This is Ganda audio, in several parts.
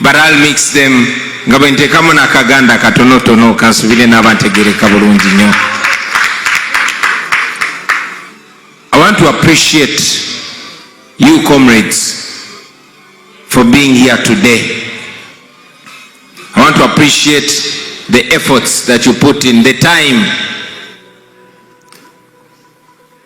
but I'll mix them nga bwe nteekamu n'akaganda katonotono kansubire n'aba ntegereka bulungi nnyo I want to appreciate you comrades for being here today I want to appreciate the efforts that you put in the time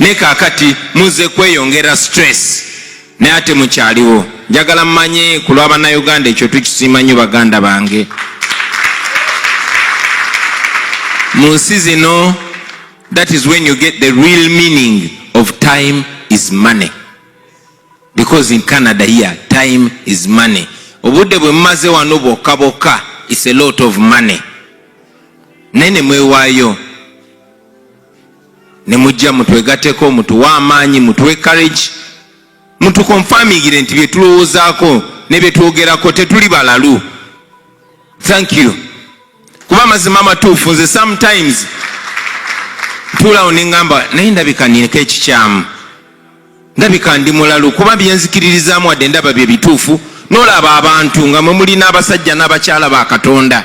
ne kakati muze kweyongera stress naye ate mukyaliwo njagala mumanye ku lwa bannayuganda ekyo tukisiima nnyo baganda bange mu nsi zino that is when you get the real meaning of time is money because in Canada here time is money obudde bwe mumaze wano bwokka bwokka is a lot of money naye ne mwewaayo ne mujja mutwegateko mutuwe amaanyi mutuwe courage mutukonfamingire nti bye tulowoozaako ne bye twogerako tetuli balalu thank you kuba amazima amatuufu nze sometimes tuulawo nengamba naye ndabika nineko ekikyamu ndabika ndi mulalu kuba byenzikiririzaamu wadde ndaba bye bituufu nolaba abantu nga mwe mulina abasajja n'abakyala ba katonda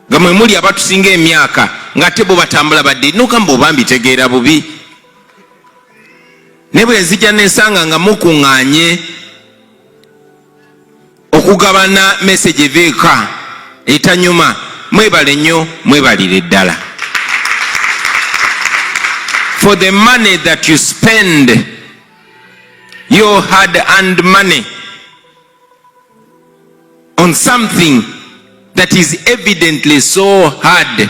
nga mwe muli abatusinga emyaka ng'ate bo batambula badde nogamba oba mbitegeera bubi ne bwe nzija nensanga nga mukuŋŋanye okugabana message eveeka etanyuma mwebale nnyo mwebalire ddala for the money that you spend your hard earned money on something that is evidently so hard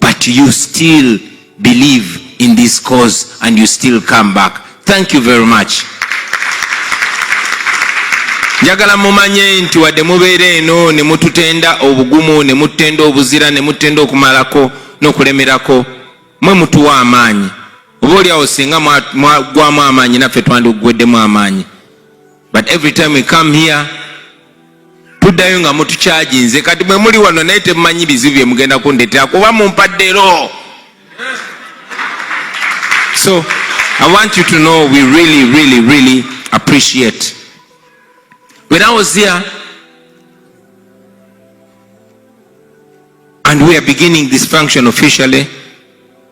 but you still believe in this cause and you still come back thank you very much njagala mumanye nti wadde mubeera eno ne mututenda obugumu ne mututenda obuzira ne mututenda okumalako n'okulemerako mwe mutuwa amaanyi oba oliawo singa mwagwamu amaanyi naffe twandiguweddemu amaanyi but every time we come here tuddayo nga mutukyaginze kati mwe muli wano naye temumanyi bizibu bye mugenda kundetera kuba mumpaddero so i want you to know we really really really appreciate when i was here and we are beginning this function officially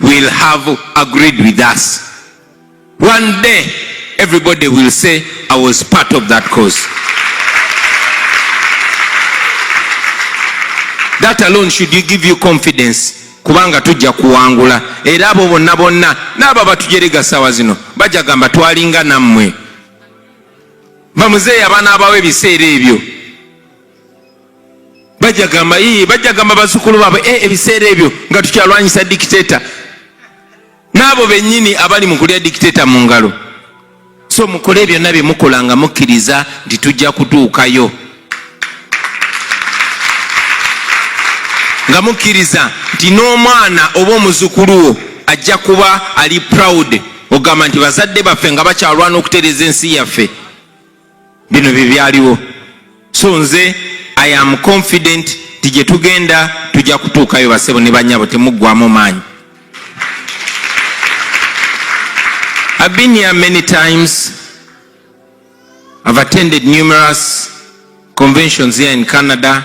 will have agreed with us. One day, everybody will say, I was part of that cause. That alone should give you confidence kubanga tujja kuwangula era abo bonna bonna n'abo abatujerega sawa zino bajja gamba twalinga nammwe bamuzeeyi abaana abawo ebiseera ebyo bajagamba ii bajagamba bazukulu baabwe e ebiseera ebyo nga tukyalwanyisa dikiteta n'abo bennyini abali mu kulya dikiteta mu ngalo so mukole byonna bye mukola nga mukkiriza nti tujja kutuukayo nga mukkiriza nti n'omwana oba omuzukulu wo ajja kuba ali proud ogamba nti bazadde baffe nga bakyalwana okutereeza ensi yaffe bino bye byaliwo so nze i am confident ti gye tugenda tujja kutuukayo basebo ne banyabo temuggwamu maanyi i've been here many times i've attended numerous conventions here in canada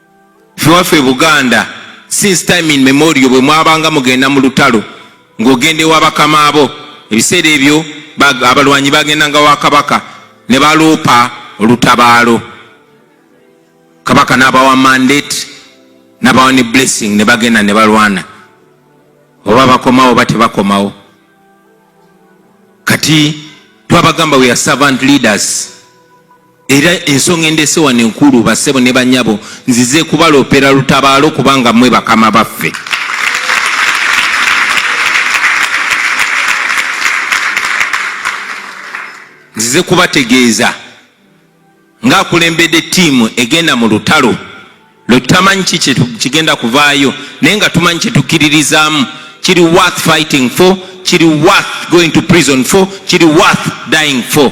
Ewaffe Buganda since time in memorial bwe mwabanga mugenda mu lutalo ng'ogenda ewa bakama bo. Ebiseera ebyo abalwanyi bagendanga wa Kabaka ne baloopa olutabaalo. Kabaka n'abawa mandate n'abawa ne blessing ne bagenda ne balwana. Oba bakomawo oba tebakomawo. Kati twabagamba we are servant leaders. Era ensonga endeese wano enkulu, bassebo ne bannyabo, nzize kubaloopera lutabaalo kubanga mmwe bakama baffe. Nzize kubategeeza ng'akulembedde ttiimu egenda mu lutalo lwe tutamanyi ki kigenda kuvaayo naye nga tumanyi kye tukkiririzaamu kiri worth fighting for kiri worth going to prison for kiri worth dying for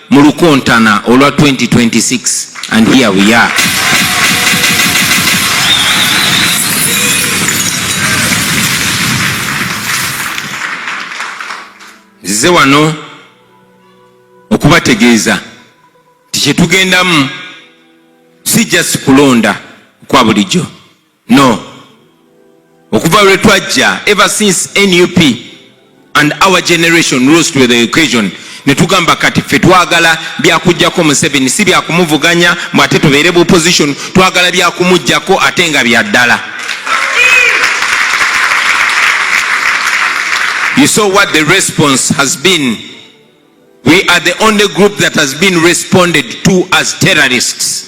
mu lukontana olwa 2026 and here we are nzize wano okubategeeza nti kyetugendamu si just kulonda kwa bulijjo no okuva lwe twajja ever since nup and our generation rose to the occasion netugamba kati ffe twagala byakujjako museveni si byakumuvuganya mwe ate tubeere bu opposition twagala byakumujjako ate nga byaddala you saw what the response has been we are the only group that has been responded to as terrorists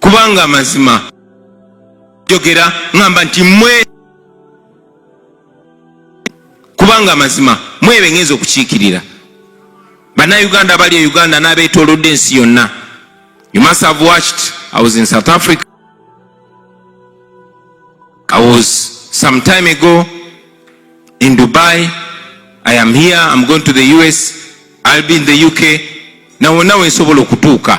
kubanga amazima jogera ŋamba nti mwe kubanga amazima mwebe ngenza okukiikirira bannayuganda abali e uganda n'abeetolodde ensi yonna you must have watched i was in south africa i was some time ago in dubai i am here i'm going to the us i'll be in the uk nawonna wensobola okutuuka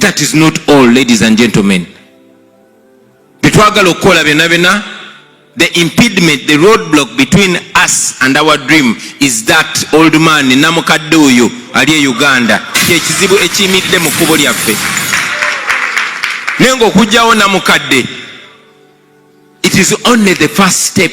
That is not all ladies and gentlemen. Byetwagala okukola byona byona the impediment the road block between us and our dream is that old man namukadde oyo ali e Uganda kyekizibu ekiyimiridde mu kkubo lyaffe naye ngaokugjawo namukadde it is only the first step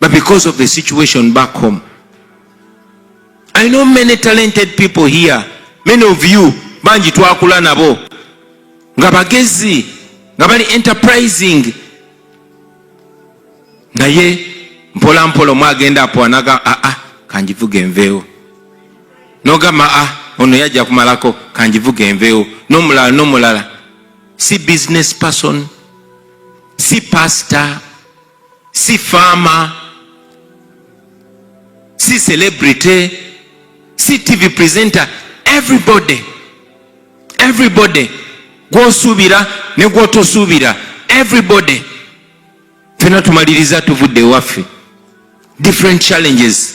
but because of the situation back home i know many talented people here many of you bangi twakula nabo nga bagezi nga bali enterprising naye mpola mpola omwagenda apwanaga aa ah, ah, kanjivuga enveewo nogamba a ah, ono yajja kumalako kanjivuga enveewo nomulala nomulala si business person si pastor si faama, si celebrity, si TV presenter, everybody everybody gwosuubira ne gwotosuubira everybody fena tumaliriza tuvudde ewaffe different challenges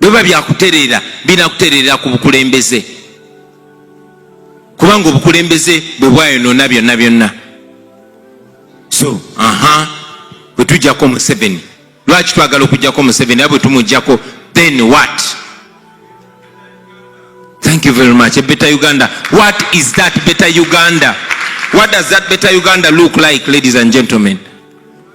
bweba byakutereera binakutereera ku bukulembeze kubanga obukulembeze bwe bwayonona byonna byonna so aha bwetujjako museveni lwaki twagala okujjako museveni a bwetumujjako then what thank you very much better uganda what is that better uganda what does that better uganda look like ladies and gentlemen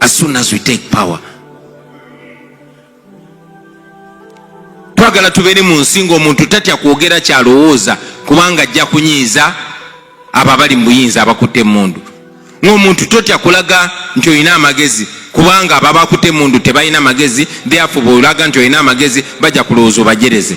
as soon as we take power twagala tubeere mu nsi ngaomuntu tatya kwogera kyalowooza kubanga ajja kunyiiza abo abali mu buyinza abakutte emundu ngaomuntu totya kulaga nti olina amagezi kubanga abo abakutte emundu tebalina magezi theafobe olaga nti olina amagezi bajja kulowooza obajereze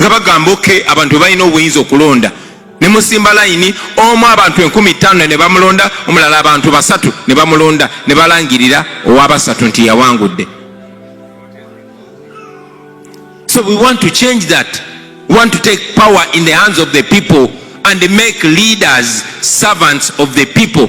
nga bagamba oke abantu bebalina obuyinza okulonda ne musimba layini omu abantu enkumi ttaano ne bamulonda omulala abantu basatu ne bamulonda ne balangirira owabasatu nti yawangudde so we want to change that we want to take power in the hands of the people and make leaders servants of the people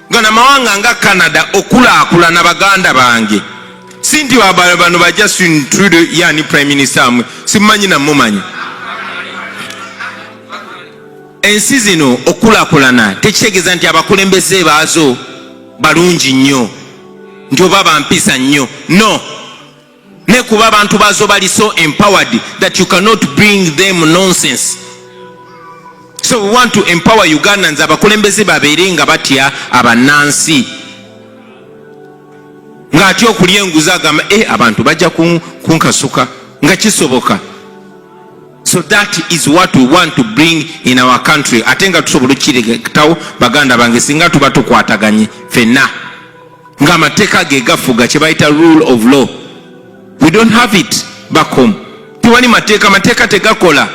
nga namawanga nga canada okulaakulana baganda bange si nti bano ba justin trude yani prime minister amwe simumanyi namumanyi ensi zino okulakulana tekitegeeza nti abakulembeze baazo balungi nnyo nti oba bampisa nnyo no ne kuba abantu bazo bali so empowered that you cannot bring them nonsense so we want to empower ugandans abakulembeze babeere nga batya abanansi ng'atya okulya enguzi agamba e abantu bajja kunkasuka nga kisoboka so that is what we want to bring in our country ate nga tusobola okukiretawo baganda bange singa tuba tukwataganye fenna nga amateeka ge gafuga kye bayita rule of law we don't have it back home tewali mateeka mateeka tegakola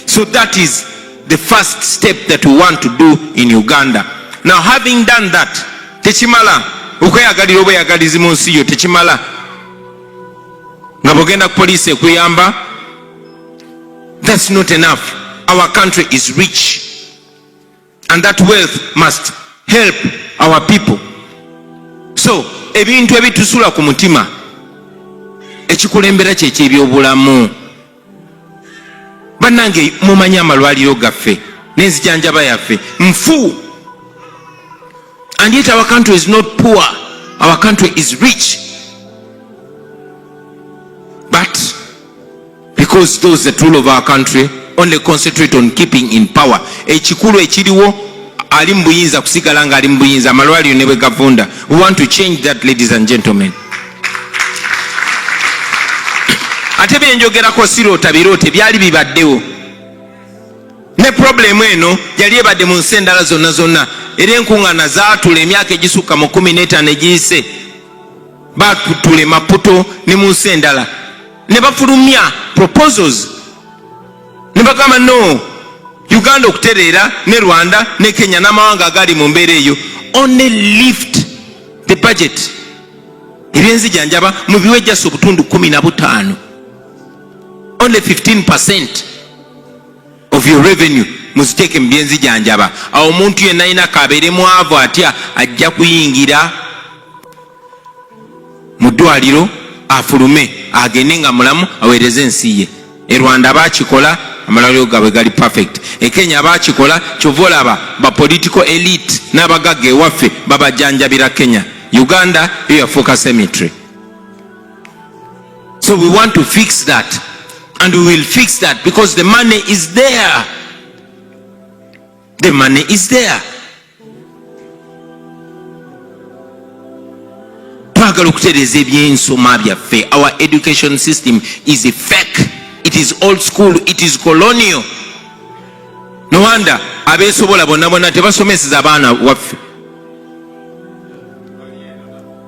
so that is the first step that we want to do in uganda now having done that tekimala okweyagalira obweyagalizi mu nsi yo tekimala nga bwogenda ku poliisi ekuyamba that's not enough our country is rich and that wealth must help our people so ebintu ebitusula ku mutima ekikulembera kyekyebyobulamu banange mumanyi amalwaliro gaffe nenzijanjaba yaffe nfu and yet our country is not poor our country is rich but because those that rule of our country only concentrate on keeping in power ekikulu ekiriwo ali mu buyinza kusigala nga ali mu buyinza amalwaliro ne bwe gavunda we want to change that ladies and gentlemen ate byenjogerako siroota biroote byali bibaddewo Ne pulobulemu eno yali ebadde mu nsi endala zonna zonna, era enkuŋŋaana zaatula emyaka egisukka mu kkumi n'etaano egiyise. Baatula e Maputo ne mu nsi endala ne bafulumya proposals ne bagamba no Uganda okutereera ne Rwanda ne Kenya n'amawanga agaali mu mbeera eyo only lift the budget ebyenzijanjaba mu biwe jasi obutundu kumi na butaano only 15 percent of your revenue muziteeke mu byenzijanjaba awo omuntu yenna alina kabeere mwavu atya ajja kuyingira mu ddwaliro afulume agende nga mulamu aweereze ensi ye e rwanda bakikola amalwaliro gabwe gali perfect e kenya bakikola kyova olaba ba political elite n'abagagga ewaffe babajanjabira kenya uganda yo yafuuka cemetery So we want to fix that and we will fix that because the money is there. The money is there. twagala okutereeza ebyensoma byaffe our education system is a fake it is old school it is colonial no wonder abeesobola bonna bonna tebasomeseza abaana waffe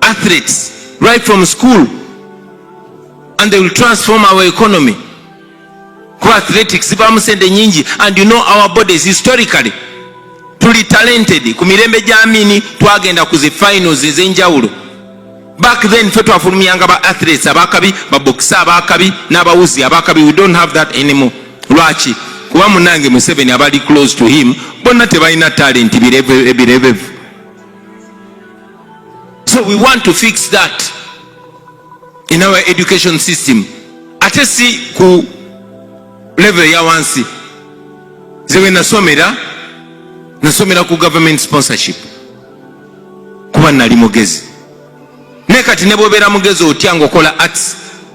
athletes right from school and they will transform our economy kuba athletics zibamu sente nyingi and you know our bodies historically tuli talented ku mirembe gyamini twagenda ku zi finals ezenjawulo back then fe twafulumyanga ba athletes abakabi babokisa abakabi n'abawuzi abakabi we don't have that anymore lwaki kuba munange museveni abali close to him bonna tebalina talenti birebevu so we want to fix that in our education system ate si ku level ya wansi zewe nasomera nasomera ku government sponsorship kuba nali mugezi naye kati nebwobeera mugezi otya ngaokola arts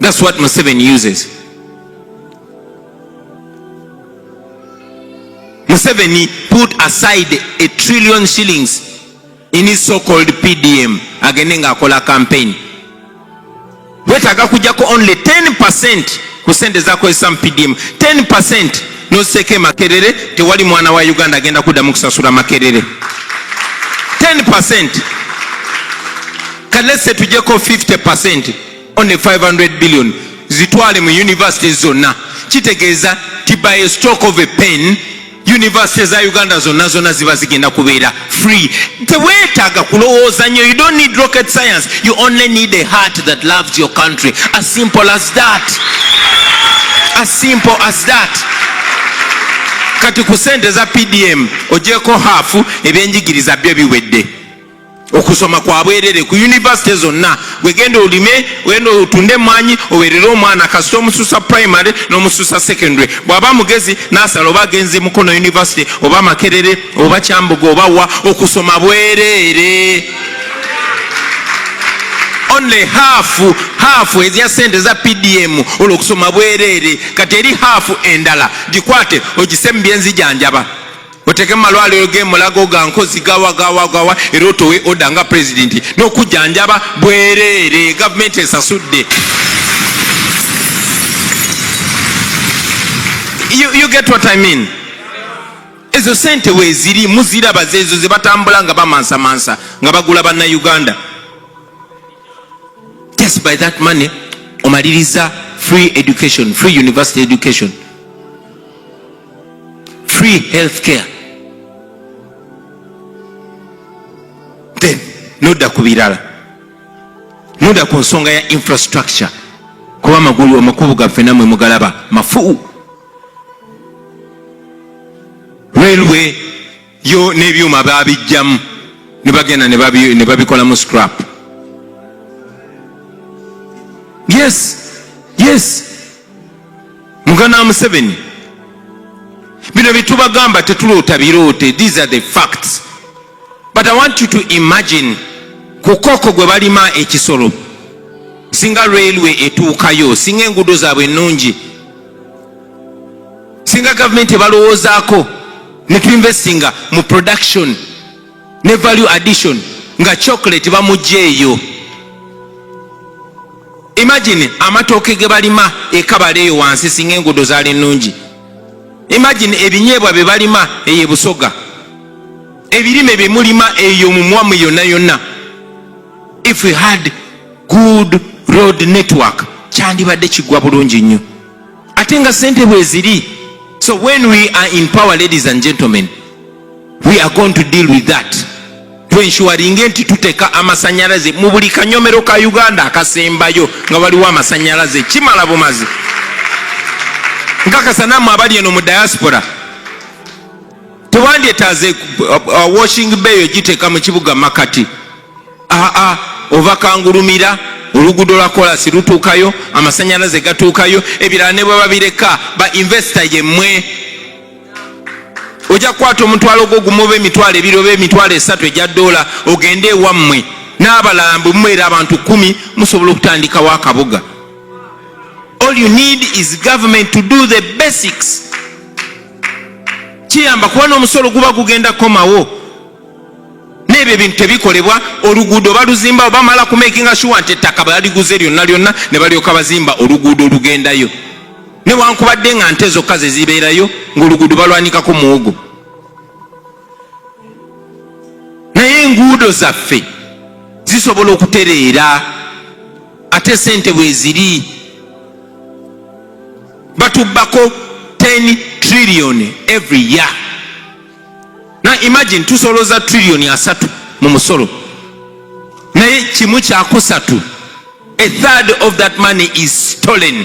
That's what Museveni uses. Museveni put aside a trillion shillings in his so-called PDM agende nga akola campaign. Wetaga kujako only 10% ku sente zakozesa mu PDM 10% noziseeko emakerere tewali mwana wa Uganda agenda kuddamu kusasula makerere 10% kalese tujeko 50% only 500 billion zitwale mu university zonna kitegeeza ti by a stroke of a pen university za uganda zonna zonna ziba zigenda kubeera free teweetaaga kulowooza nyo you don't need rocket science you only need a heart that loves your country as simple as that as simple as that kati ku sente za pdm ojeko haafu ebyenjigiriza byo biwedde okusoma kwa bwerere ku yunivasite zonna gwegenda olime genda otunde emwanyi owerere omwana kasita omususa primary n'omususa secondary bw'aba mugezi n'asala oba agenze mukono yunivasite oba makerere oba kyambuga oba wa okusoma bwerere only half half ezya sente za pdm olwo okusoma bwerere kati eri half endala gikwate ogise mu byenzijanjaba oteke mumalwaliro gemulago gankozi gawagawagawa era otowe oda nga pulezidenti nokujanjaba bwereere gavumenti esasudde you, you get what I mean ezo sente weziri muziraba zezo zebatambula nga bamansamansa nga bagula banna uganda just by that money omaliriza free education free university education free health care then nodda ku birala nodda ku nsonga ya infrastructure kuba amagulu amakubu gaffe namwe mugalaba mafuu railway yo n'ebyuma baabijjamu ne bagenda ne babikolamu scrap yes yes mugana wa museveni bino byetubagamba tetuloota biroote these are the facts but i want you to imagine ku koko gwe balima ekisolo singa railway etuukayo singa enguudo zaabwe ennungi singa gavumenti ebalowoozaako ne tuinvestinga mu production ne value addition nga chocolate bamugya eyo imagine amatooke ge balima ekabala eyo wansi singa enguudo zaali nnungi imagine ebinyeebwa bye balima eyo ebusoga ebirime bye mulima eyo mumwamu yonna yonna if we had good road network kyandibadde kigwa bulungi nnyo ate nga sente bweziri so when we are in power ladies and gentlemen we are going to deal with that twenshuwaringe nti tuteka amasanyalaze mu buli kanyomero ka uganda akasembayo nga waliwo amasanyalaze kimala bumazi nkakasa namwe abali eno mu diaspora tewandyetaze uh, uh, washing bay ogiteeka mu kibuga makati aa ova kangulumira oluguudo lwa kolasi lutuukayo amasanyalaze gatuukayo ebirala ne bwe babireka ba investa yemmwe ojja kukwata omutwalo gwo gumu oba emitwalo ebiri oba emitwalo esatu egya doola ogende ewammwe n'abalala bwe mumweera abantu kumi musobola okutandikawo akabuga all you need is government to do the basics kiyamba kuba n'omusolo guba gugenda kukomawo n'ebyo ebintu tebikolebwa oluguudo baluzimba bamala kumakinga shuwa nti ettaka baliguze lyonna lyonna ne balyoka bazimba oluguudo olugendayo newankubadde nga nte zokka zezibeerayo ngaoluguudo balwanikako muwogo naye enguudo zaffe zisobola okutereera ate sente bweziri batubbako 10 trillion every year na imagine tusoloza trillion asatu mu musolo naye kimu kyakusatu a third of that money is stolen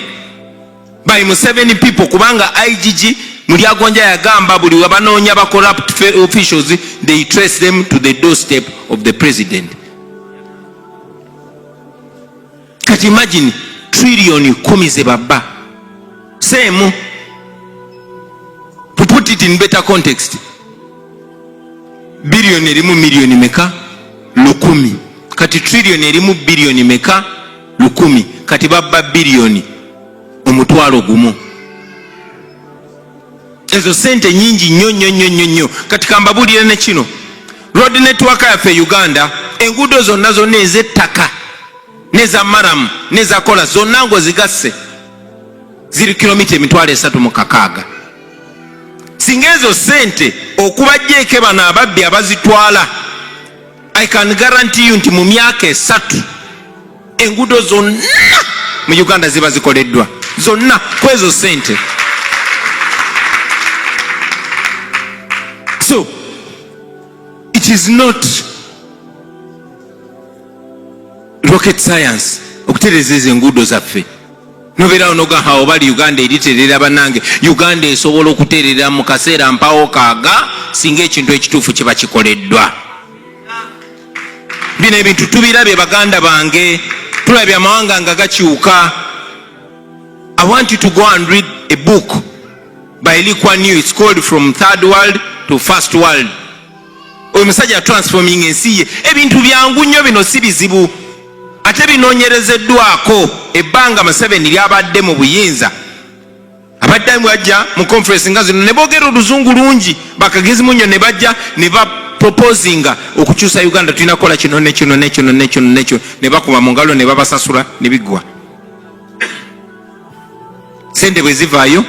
by museveni people kubanga igg mulyagonja yagamba buli webanoonya ba corrupt officials they trace them to the doorstep of the president kati imagine trillion kumi zebabba seemu to put it in better context billion erimu million meka lukumi kati trillion erimu billion meka lukumi kati babba billion omutwalo gumu ezo sente nyingi nnyo nnyo nnyo nnyo nnyo kati kambabuulire ne kino road network yaffe e uganda enguudo zonna zonna ez'ettaka neza maramu neza kola zonna ngaozigasse ziri kilomita emitwalo esatu mu kakaaga singa ezo sente okubajjeeke bano ababbi abazitwala i can guarantee you nti mu myaka esatu enguudo zonna mu uganda ziba zikoleddwa zonna kwezo sente so it is not rocket science okutereza ezo enguudo zaffe nobeerawo nogaha obali uganda eriterera banange uganda esobola okuterera mu kaseera mpawo kaaga singa ekintu ekituufu kiba kikoleddwa bino ebintu tubirabye baganda bange tulabye amawanga nga gakyuka i want you to go and read a book by liqua new its called from third world to first world oyo musajja transforming ensi ye ebintu byangu nnyo bino si bizibu ate binonyerezeddwako ebbanga museveni lyabadde mu buyinza abadde bajja mu conference nga zino ne boogera oluzungu lungi bakagezi munyo ne bajja ne ba proposinga okukyusa uganda tulina kukola kino nekino nekino nekino nekino ne bakuba mu ngalo ne babasasula ne biggwa sente bwe zivaayo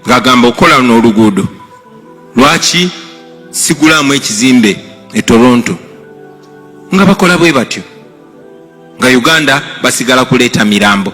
ng'agamba okukola luno oluguudo lwaki sigulaamu ekizimbe e toronto nga bakola bwe batyo nga uganda basigala kuleeta mirambo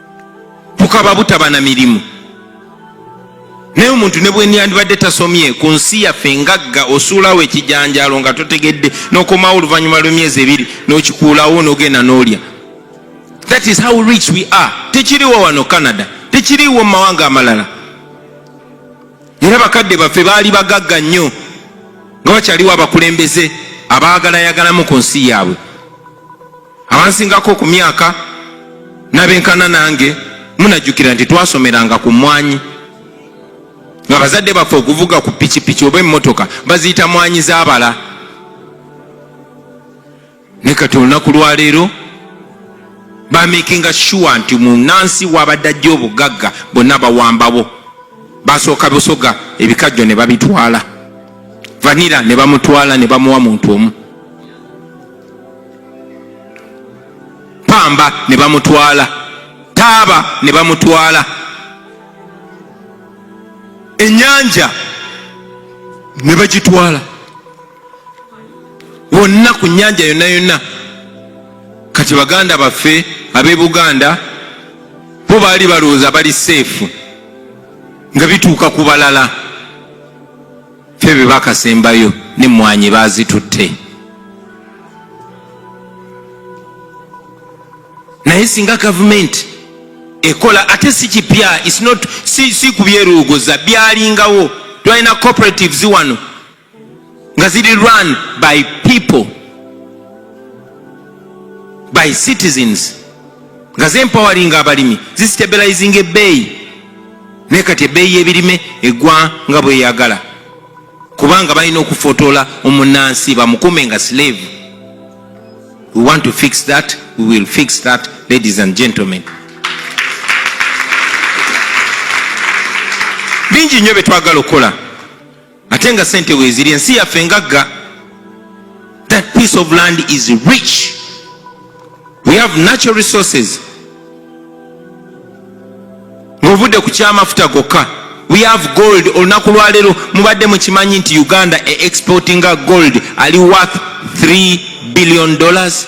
tukaba butaba na mirimu naye omuntu ne bwenyandibadde tasomye ku nsi yaffe ngagga osuulawo ekijanjaalo nga totegedde nokomawo oluvannyuma lwemyezi ebiri nokikuulawo nogenda nolya that is how rich we are tekiriwo wano canada tekiriwo mu mawanga amalala era bakadde baffe baali bagagga nnyo nga bakyaliwo abakulembeze abaagalayagalamu ku nsi yaabwe abansingako ku myaka nabenkana nange munajjukira nti twasomeranga ku mwanyi nga bazadde baffe okuvuga ku pikipiki oba emmotoka baziyita mwanyi zabala naye kati olunaku lwaleero bamakinga sure nti munansi wabadde ajja obugagga bonna bawambawo basooka busoga ebikajjo ne babitwala vanira ne bamutwala ne bamuwa muntu omu pamba ne bamutwala taaba ne bamutwala enyanja ne bagitwala wonna ku nyanja yonna yonna kati baganda baffe ab'e buganda bo baali balowooza bali seefu nga bituuka ku balala ffe bebakasembayo ne mwanyi bazitutte naye singa gavumenti ekola ate si kipya si kubyeruuguza byalingawo twalina cooperatives wano nga ziri run by people by citizens nga zempawalinga abalimi zisitabilizinga ebbeeyi naye kati ebbeeyi y'ebirime egwa nga bweyagala kubanga balina okufotoola omunansi bamukume nga slave we want to fix that we will fix that ladies and gentlemen bingi nnyo byetwagala okukola ate nga sente weziri ensi yaffe ngagga that piece of land is rich we have natural resources ngaovudde ku kyamafuta gokka we have gold olunaku lwaleero mubadde mukimanyi nti uganda e exportinga gold ali worth 3 billion dollars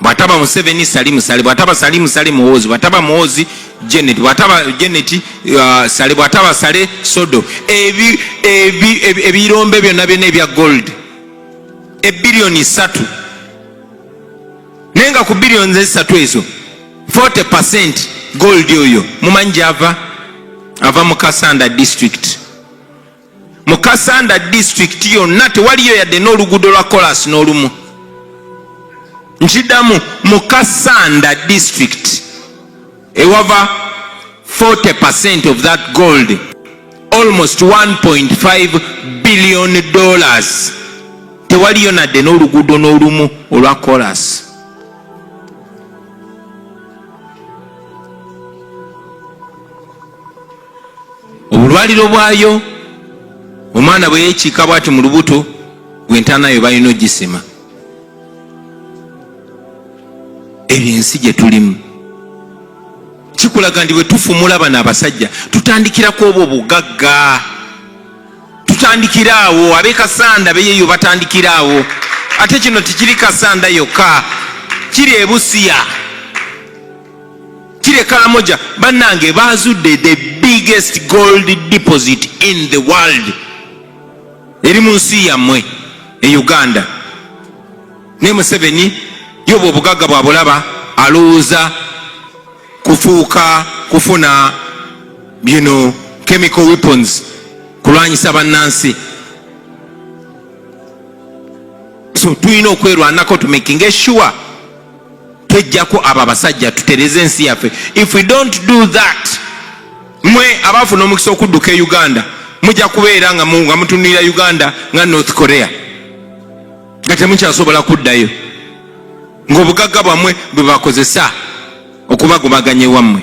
bwataba museveni salimu sale bwataba salimu sale muwozi bwataba muwozi janet bwataba janet uh, sale bwataba sale sodo ebirombe ebi, ebi, byonna byonna ebya gold ebiliyoni satu naye nga ku biliyoni zesatu ezo 40 percent gold oyo mumanyi gyava ava mu kasanda district mu kasanda disitulikiti yonna tewaliyo yadde n'oluguudo lwa kolasi n'olumu nkidamu mu kasanda disitulikiti ewava 40 percent of that gold almost 1.5 billion dollars tewaliyo nadde n'oluguudo n'olumu olwa kolasi obulwaliro bwayo omwana bwe yekiika bwati mu lubuto gwe ntanayo balina ogisima ebyo ensi gye tulimu kikulaga ndi bwe tufumula bano abasajja tutandikirako obwo bugagga tutandikira awo abe kasanda beyeyo batandikira awo ate kino tekiri kasanda yokka kiri ebusiya Kire Karamoja bannange baazudde the biggest gold deposit in the world eri mu nsi yammwe e Uganda. Ne Museveni yoba obugagga bwa bulaba alowooza kufuuka kufuna you know, chemical weapons kulwanyisa bannansi. So tulina okwerwanako to making sure twejjako abo abasajja tutereze ensi yaffe if we don't do that mwe abaafuna omukisa okudduka e uganda mujja kubeera nga mutunulira uganda nga north korea nga temukyasobola kuddayo ngaobugagga bwammwe bwebakozesa okubagobaganya ewammwe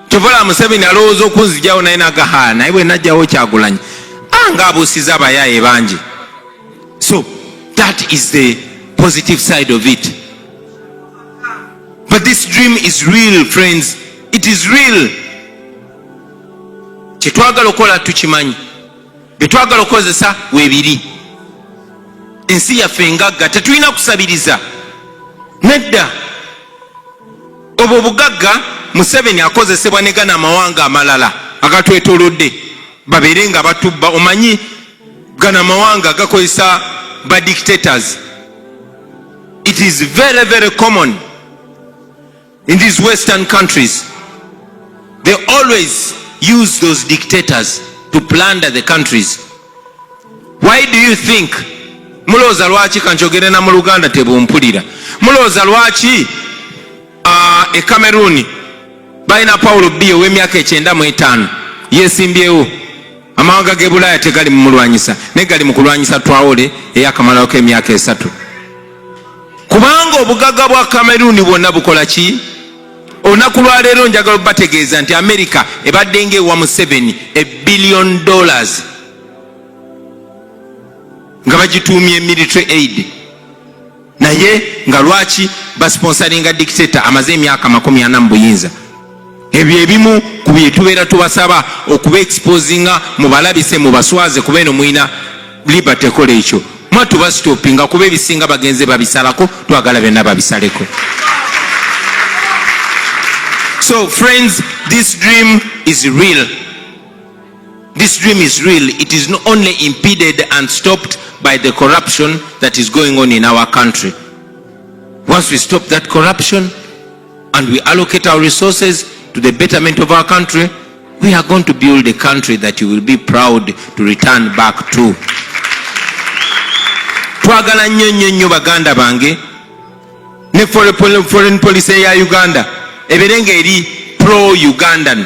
kyovola museveni alowooza okunzijawo naye nagahaa naye bwe najjawo kyagulanyi anga ah, abuusiza abayaye bangi so that is the positive side of it but this dream is real friends it is real kyetwagala okukola tukimanyi byetwagala okukozesa webiri ensi yaffe ngagga tetulina kusabiriza nedda obwo obugagga museveni akozesebwa negana amawanga amalala agatwetolodde babeere nga batubba omanyi gana amawanga gakozesa ba dictators it is very very common In these western countries they always use those dictators to plunder the countries. Why do you think mulooza lwaki kanjogere na mu Luganda tebumpulira mulooza lwaki uh, e Cameroon balina Paulo B ow'emyaka ekyenda mu etaano yesimbyewo amawanga g'e Bulaaya tegali mumulwanyisa naye gali mu kulwanyisa Traore eyakamalawo k'emyaka esatu. kubanga obugagga bwa kameruni bwonna bukola ki olunaku lwaleero njagala obategeeza nti america ebadde nga ewa museveni ebillion dollars nga bagituumye military aid naye nga lwaki basponsaringa dictator amaze emyaka makumi ana mu buyinza ebyo ebimu ku byetubeera tubasaba okuba exposinga mubalabise mubaswaze kuba eno mulina liberty kola ekyo mwa tubasitopinga kuba ebisinga bagenze babisalako twagala byonna babisaleko so friends this dream is real this dream is real it is not only impeded and stopped by the corruption that is going on in our country once we stop that corruption and we allocate our resources to the betterment of our country we are going to build a country that you will be proud to return back to twagala nnyo nnyo nnyo baganda bange ne foreign policy eya uganda ebeere nga eri pro ugandan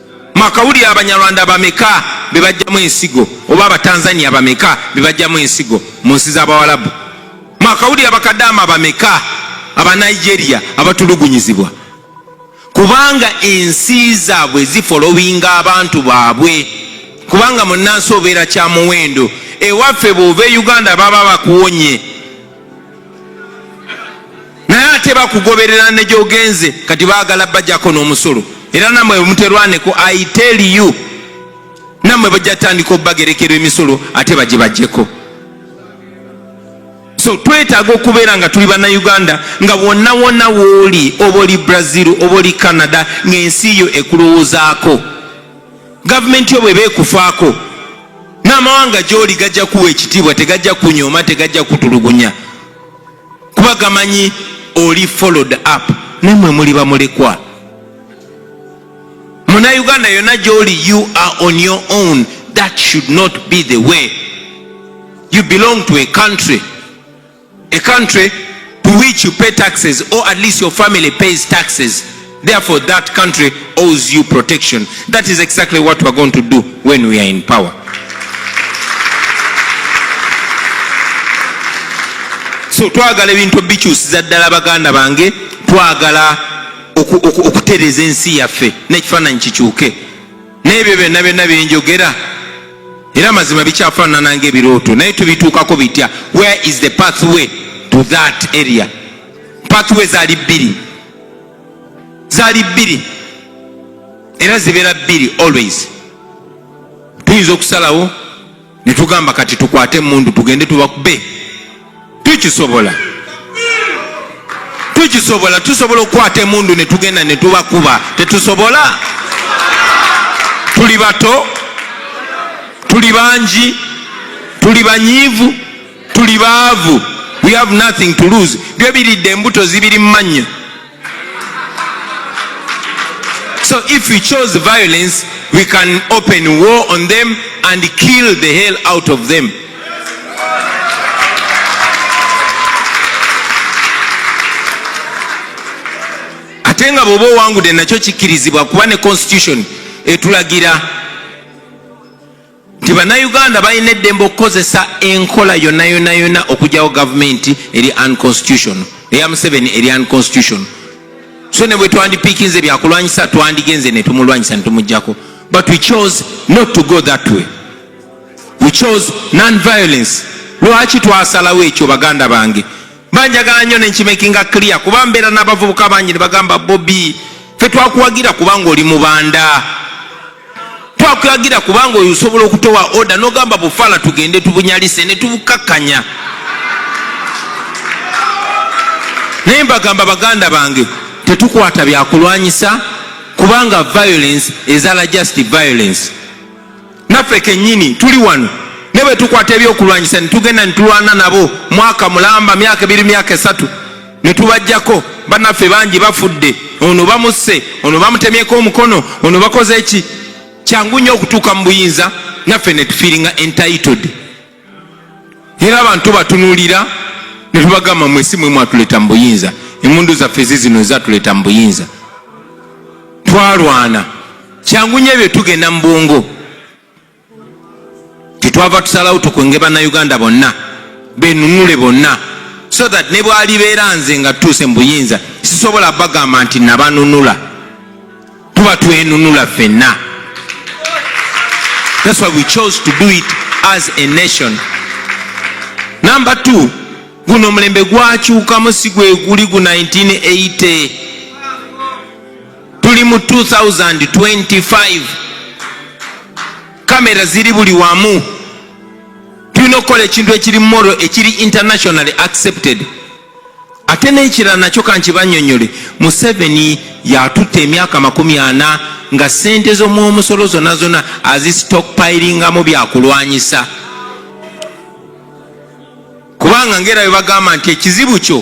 mwakawulira abanyarwanda bameka bebajjamu ensigo oba abatanzania bameka bebajjamu ensigo mu nsi z'abawalabu mwakawulira abakadaama bameka abanigeria abatulugunyizibwa kubanga ensi zaabwe zifolowinga abantu baabwe kubanga munansi obeera kyamuwendo ewaffe bwova e uganda baba bakuwonye naye ate bakugoberera ne gyogenze kati baagala bajako n'omusolo era namwe muterwaneko i tell you namwe bajja tandika obubagerekera emisolo ate bagibajeko so twetaaga okubeera nga tuli bannayuganda nga wonna wonna wooli oba oli brazil oba oli canada ng'ensi yo ekulowoozaako gavumenti yo bweba ekufaako n'amawanga gy'oli gajja kuwa ekitiibwa tegajja kunyooma tegajja kutulugunya kuba gamanyi oli followed up nemwe muli bamulekwa muna uganda yonna gy'oli you are on your own that should not be the way you belong to a country A country to which you pay taxes or at least your family pays taxes therefore that country owes you protection that is exactly what we are going to do when we are in power so twagala ebintu bikyusiza ddala baganda bange twagala okutereeza ensi yaffe n'ekifaananyi kikyuke n'ebyo byonna byonna byenjogera era mazima bikyafaanana nga ebirooto naye tubituukako bitya where is the pathway to that area pathway zaali bbiri zaali bbiri era zibeera bbiri always tuyinza okusalawo netugamba kati tukwate emundu tugende tubakube tukisobola tukisobola tusobola okukwata emundu netugenda netubakuba tetusobola tuli bato tuli bangi tuli banyiivu tuli baavu we have nothing to lose byo biridde embuto zibiri mu mannyo So if we chose violence, we can open war on them and kill the hell out of them. ate nga bwoba owangude nakyo kikkirizibwa kuba ne constitution etulagira nti bannayuganda balina eddembe okukozesa enkola yonna yonna yonna okugyawo gavumenti eri unconstitution eya museveni eri unconstitution so ne bwe twandipiikinze byakulwanyisa twandigenze ne tumulwanyisa ne tumugjako but we chose not to go that way we chose non violence lwaki twasalawo ekyo baganda bange banjagala nnyo nenkimakinga clear kuba mbeera n'abavubuka bangi ne bagamba bobi fe twakuwagira kubanga oli mubanda twakuwagira kubanga oyo osobola okutowa oda nogamba bufala tugende tubunyalise ne tubukakkanya naye mbagamba baganda bange tetukwata byakulwanyisa kubanga violence ezala just violence naffe kenyini tuli wano ne bwe tukwata ebyokulwanyisa ne tugenda ne tulwana nabo mwaka mulamba myaka ebiri myaka esatu ne tubajjako banaffe bangi bafudde ono bamusse ono bamutemyeko omukono ono bakoze ki kyangu nnyo okutuuka mu buyinza naffe ne tufiiringa entitled era abantu tubatunulira ne tubagamba mwe si mwe mwatuleeta mu buyinza emundu zaffe zizino ezatuleeta mu buyinza twalwana kyangu nyo ebyo tugenda mu bwongo tetwava tusalawo tukwenge bannayuganda bonna benunule bonna so that ne bwalibeera nze nga tutuuse mu buyinza sisobola bagamba nti nabanunula tuba twenunula fenna that's why we chose to do it as a nation number two guno omulembe gwakyukamu si gwe guli gu 1980 tuli mu 2025 kamera ziri buli wamu tulina okukola ekintu ekiri moro ekiri internationally accepted ate n'ekirala nakyo kankibanyonyole museveni yatutte emyaka makumi ana nga sente z'omwomusolo zona zona azistokpiringamu byakulwanyisa kubanga ngaera webagamba nti ekizibu kyo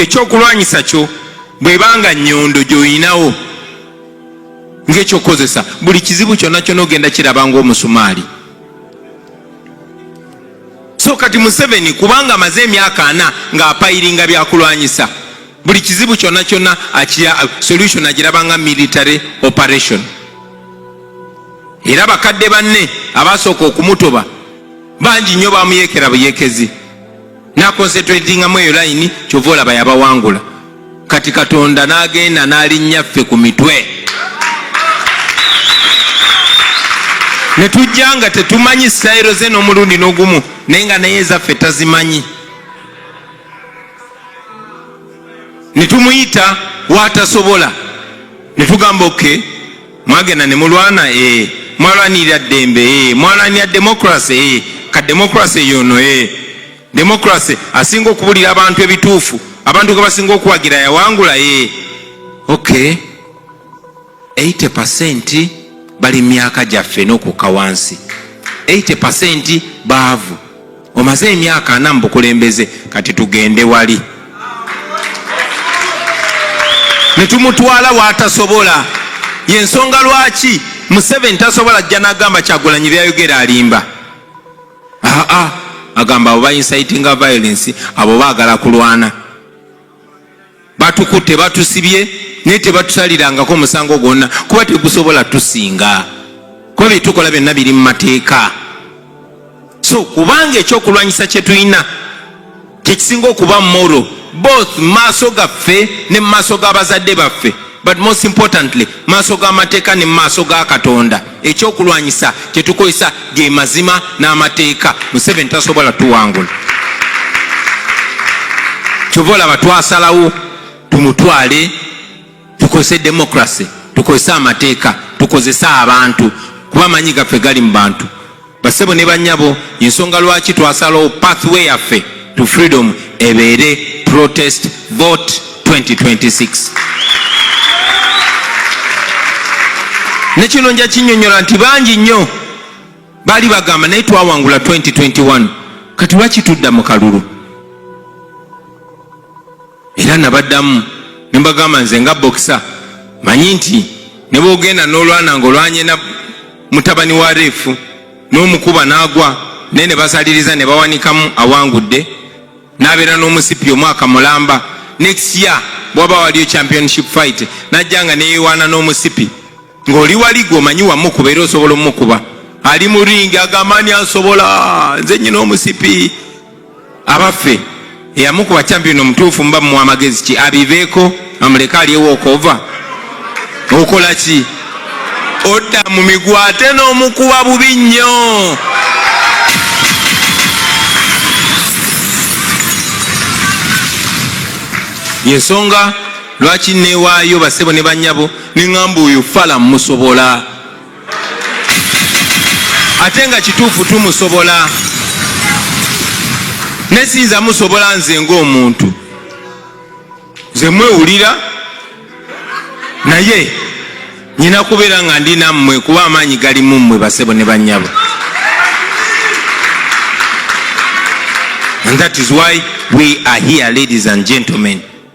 ekyokulwanyisa e, e, e, kyo bwebanga nyondo gyoyinawo ngekyokukozesa buli kizibu kyona kyona ogenda kiraba ngaomusumaali so kati museveni kubanga amaze emyaka ana ng'apayiringa byakulwanyisa buli kizibu kyonna kyonna akira solution agirabanga military operation era bakadde banne abaasooka okumutoba bangi nnyo bamuyekera buyekezi nakonsetratingamu eyo layini kyova olaba yabawangula kati katonda n'agenda n'alinnya ffe ku mitwe ne tujja nga tetumanyi sitayiro ze n'omulundi n'ogumu naye nga naye ezaffe tazimanyi ne tumuyita waatasobola ne tugamba oke mwagenda ne mulwana ee eh, mwalwanirira ddembe ee eh, mwalwanira demokrasi ee eh, ka demokrasi eyono ee democracy asinga okubulira abantu ebituufu abantu ge basinga okuwagira yawangula ye ok 80 percent bali myaka gyaffe n'okukka wansi 80 percent baavu omaze emyaka ana mu bukulembeze kati tugende wali ne tumutwala waatasobola yensonga lwaki museveni tasobola ajja nagamba kyagulanyi byayogera alimba aa agamba abo bainsitinga violence abo bagala kulwana batukutte batusibye naye tebatusalirangako musango gwonna kuba tegusobola tusinga kuba byetukola byonna biri mu mateeka so kubanga ekyokulwanyisa kyetulina kyekisinga okuba moro both maaso gaffe ne maaso g'abazadde baffe but most importantly maaso g'amateeka ne maaso ga katonda ekyokulwanyisa kyetukozesa ge mazima n'amateeka museveni tasobola tuwangula kyova olaba twasalawo tumutwale tukozese democracy tukozese amateeka tukozese abantu kuba amanyi gaffe gali mu bantu basebo ne banyabo ensonga lwaki twasalawo pathway yaffe to freedom ebeere protest vote 2026 nekino nja kinyonyola nti bangi nnyo baali bagamba naye twawangula 2021 kati lwaki tudda mu kalulu era nabaddamu ne mbagamba nze nga bokisa manyi nti ne bwogenda n'olwana ng'olwanye na mutabani wa reefu n'omukuba n'agwa naye ne basaliriza ne bawanikamu awangudde n'abeera n'omusipi omwaka mulamba next year bwaba waliyo championship fight najja nga neyewaana n'omusipi ng'oli wali gwomanyi wamukuba era osobola omukuba ali mu ringi agamba ani asobola nze nyina omusipi abaffe eyamukuba champion omutuufu muba mu amagezi ki abiveeko amuleke alyewo okova okola ki odda mu migwa ate n'omukuba bubi nnyo yensonga lwaki newaayo basebo ne banyabo neŋamba oyo fala musobola ate nga kituufu tumusobola naye siyinza musobola nze ngaomuntu nze mwewulira naye nyina kubeera nga ndi nammwe kuba amaanyi gali mu mmwe basebo ne banyabo and that is why we are here ladies and gentlemen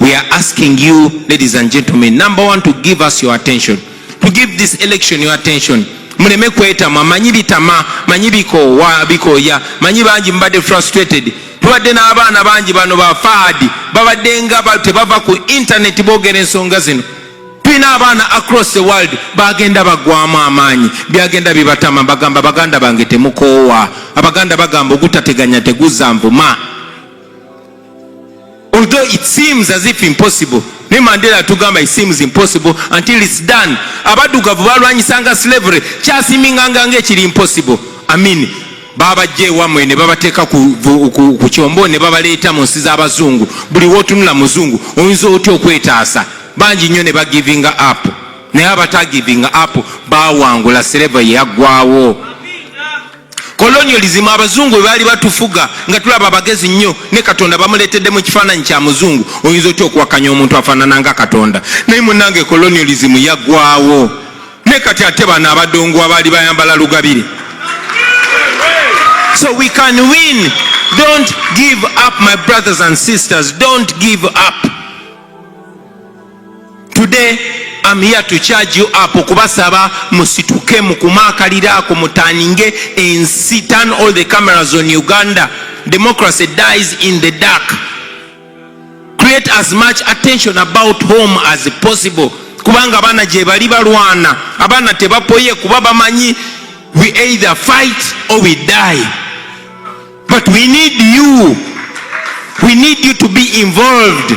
We are asking you, ladies and gentlemen, number one, to give us your attention, to give this election your attention. Muleme kwetama manyi bitama manyi bikoowa bikooya manyi bangi mubadde frustrated tubadde n'abaana bangi bano ba faadi babadde nga tebava ku intaneti boogera ensonga zino tulina abaana across the world bagenda bagwamu amaanyi byagenda bibatama bagamba baganda bange temukoowa abaganda bagamba ogutateganya teguzanvuma although it seems as if impossible ne mandela atugamba it seems impossible until its done abadugavu balwanyisanga slavery kyasiminganga nga ekiri impossible amin babajja ewamwe ne babateeka ku kyombo ne babaleeta mu nsi z'abazungu buli wotunula muzungu oyinza otya okwetaasa bangi nnyo ne bagivinga app naye abatagivinga app bawangula slavery yaggwawo kolonyolism abazungu webaali batufuga nga tulaba abagezi nnyo ne katonda bamuletedde mu kifaananyi kya muzungu oyinza otya okuwakanya omuntu afaanana nga katonda naye munange kolonyolism yagwawo ne kati ate bano abadongo abaali bayambala lugabire so we can win don't give up my brothers and sisters don't give up Today I'm here to charge you up okubasaba musituke mukumaakalira ako mutaninge ensi turn all the cameras on Uganda democracy dies in the dark create as much attention about home as possible kubanga abaana gyebali balwana abaana tebapoye kuba bamanyi we either fight or we die but we need you we need you to be involved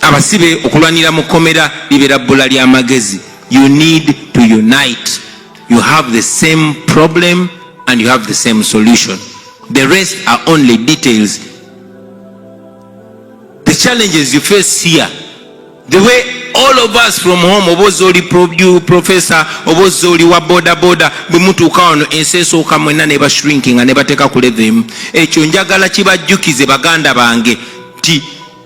abasibe okulwanira mu kkomera libeera bbula ly'amagezi you need to unite you have the same problem and you have the same solution the rest are only details the challenges you face here the way all of us from home oba oza oli professor oba oza oli wa bodaboda bwe mutuuka wano ensi esooka mwenna ne bashrinkinga ne bateeka ku levemu ekyo njagala kibajjukize baganda bange nti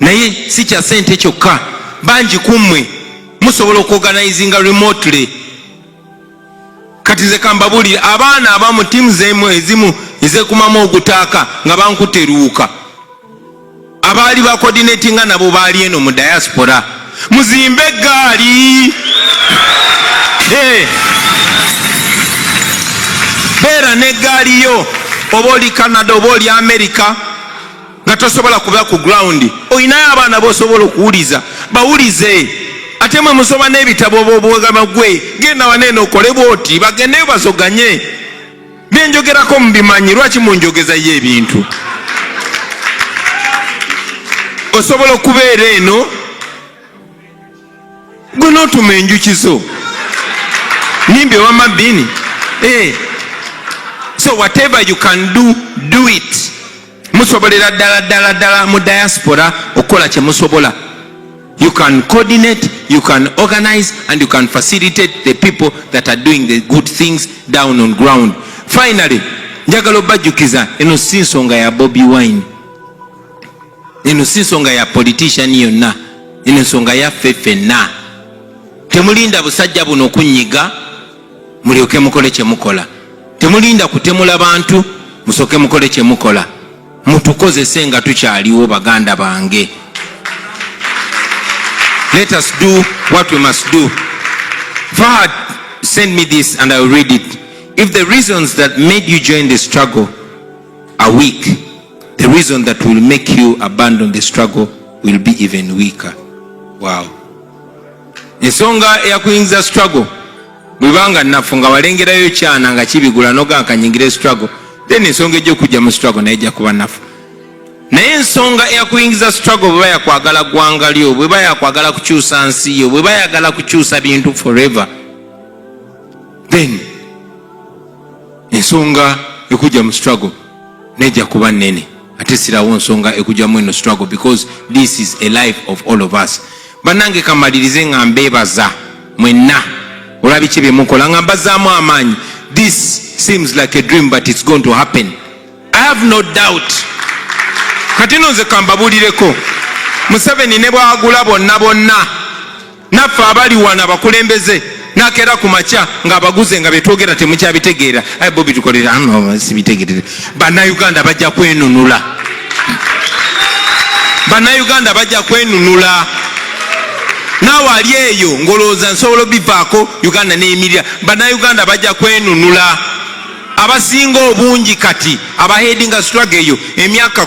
naye si kya sente kyokka bangi ku mmwe musobola okuorganizinga remotely kati nze kambabuli abaana abamu tiimu zemu ezimu ezekumamu ogutaaka nga bankutte luwuka abaali bakodinatinga nabo baali eno mu diaspora muzimbe eggaali eh. beera n'eggaali yo oba oli canada oba oli amerika nga tosobola kuba ku ground olinayo abaana bosobola okuwuliza bawulize ate mwe musoma n'ebitabo bobwegama gwe genda waneeno okole bwoti bagendeyo bazoganye byenjogerako mubimanyi lwaki munjogezayo ebintu osobola okubeera eno gwe notuma enjuki zo nimbi ewama bini hey. Eh. so whatever you can do do it musobolera ddala ddala ddala mu diaspora okukola kyemusobola you can coordinate you can organize and you can facilitate the people that are doing the good things down on ground finally njagala obajjukiza eno si nsonga ya bobi wine eno si nsonga ya politician yonna eno nsonga yaffe ffenna temulinda busajja buno kunyiga mulyoke mukole kyemukola temulinda kutemula bantu musoke mukole kyemukola mutukozese nga tukyaliwo baganda bange let us do what we must do fahad send me this and iwill read it if the reasons that made you join the struggle are weak the reason that will make you abandon the struggle will be even weaker wow ensonga eyakuyingiza struggle bwebanga nafu nga walengerayo kyana nga kibigula nogankanyingira struggle then ensonga ejja okujja mu struggle naye ejja kuba nafu naye ensonga eyakuyingiza struggle bweba yakwagala gwanga lyo bweba yakwagala kukyusa nsi yo bweba yagala kukyusa bintu forever then ensonga ekujja mu struggle neja kuba nene ate sirawo nsonga ekujamu eno struggle because this is a life of all of us banange kamalirize nga mbebaza mwenna olabiki byemukola nga mbazaamu amaanyi this seems like a dream but it's going to happen i have no doubt kati no nze kambabulireko museveni ne bwagula bonna bonna naffe abali wano abakulembeze nakera ku makya ng'abaguze nga betwogera temukyabitegeera aye bo bitukolera sibitegerere bannayuganda bajja kwenunula bannayuganda bajja kwenunula naawe ali eyo ngolowooza nsobola obivaako uganda neyimirira bannayuganda bajja kwenunula abasinga obungi kati abahedinga struggle eyo emyaka